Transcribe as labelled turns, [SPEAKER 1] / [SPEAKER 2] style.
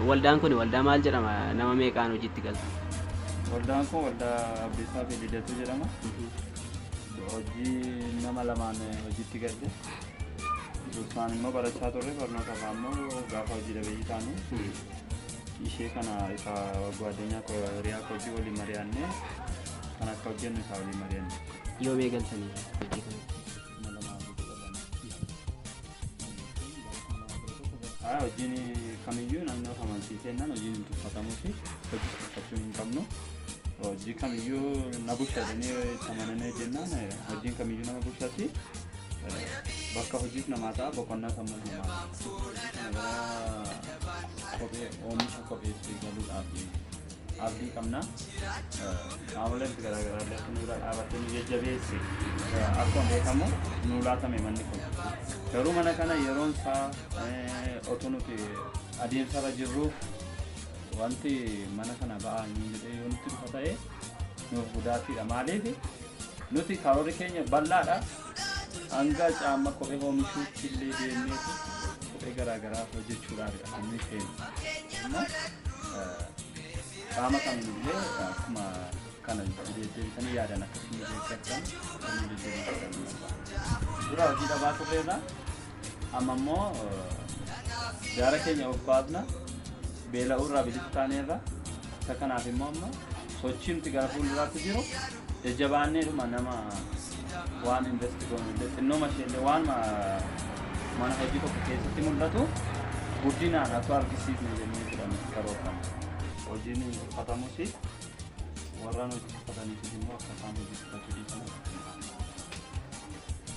[SPEAKER 1] Waldaan kun waldaa maal jedhama? Nama meeqaan hojiitti galtu? Waldaan kun
[SPEAKER 2] waldaa Abdiisaa fi Lidatuu jedhama. Hojii nama lamaan hojiitti galle. Dursaan immoo barachaa turre barnoota isaa immoo gaafa hojii dhabeeyyii taanu ishee kana isa gwaaddanyaa koo hiriyaa koo hojii waliin mari'annee kan akka hojjennu isaa waliin mari'anne. Yoomee galtanii
[SPEAKER 1] hojii kana?
[SPEAKER 2] Haa hojiin kamiyyuu namni of amansiiseennan hojiin hin tuffatamuu fi hojii tuffachuu hin qabnu. Hojii kamiyyuu na bulcha jedhanii itti amananii jennaan eh, hojiin kamiyyuu nama bulchatti. Eh, Bakka hojiis namaa ta'a boqonnaa sammuus namaa ta'a. Gara kophee oomisha kopheetti galuudhaaf abdii qabna. Qaamoleen garaa garaa illee akka nu bira dhaabattee nu jajjabeessi. Akkuma beekamu nu laatame manni kun. Garuu mana kana yeroon isaa otoo nuti adeemsarra jirru wanti mana kana ba'aa hin jedhee yoo nutti dhufa ta'e nuuf gudaatiidha. Maaliif nuti karoorri keenya bal'aadha. Hanga caamma kophee oomishuutti illee deemneetu kophee garaa garaa hojjechuudhaafidha kan nuyi feenu. Amma qaama qabnu illee akkuma kana deddeebisanii yaadan akkasuma deeggartan kan nu deddeebisan. Dura hojii dhabaa turreerra amma immoo gaara keenya of baafna beela'uu irraa bilisa taaneerra isa kanaaf immoo amma sochii nuti gara fuulduraatti jiru Jajjabaannee dhuma nama waan invest goonu illee xinnoo mashee illee waan mana hojii tokko keessatti mul'atu guddinaan akka argisiifne jennee jedhan karoorfame. Hojiin uffatamus warraan hojii uffataniif immoo akka isaan hojii uffachuu dhiisan.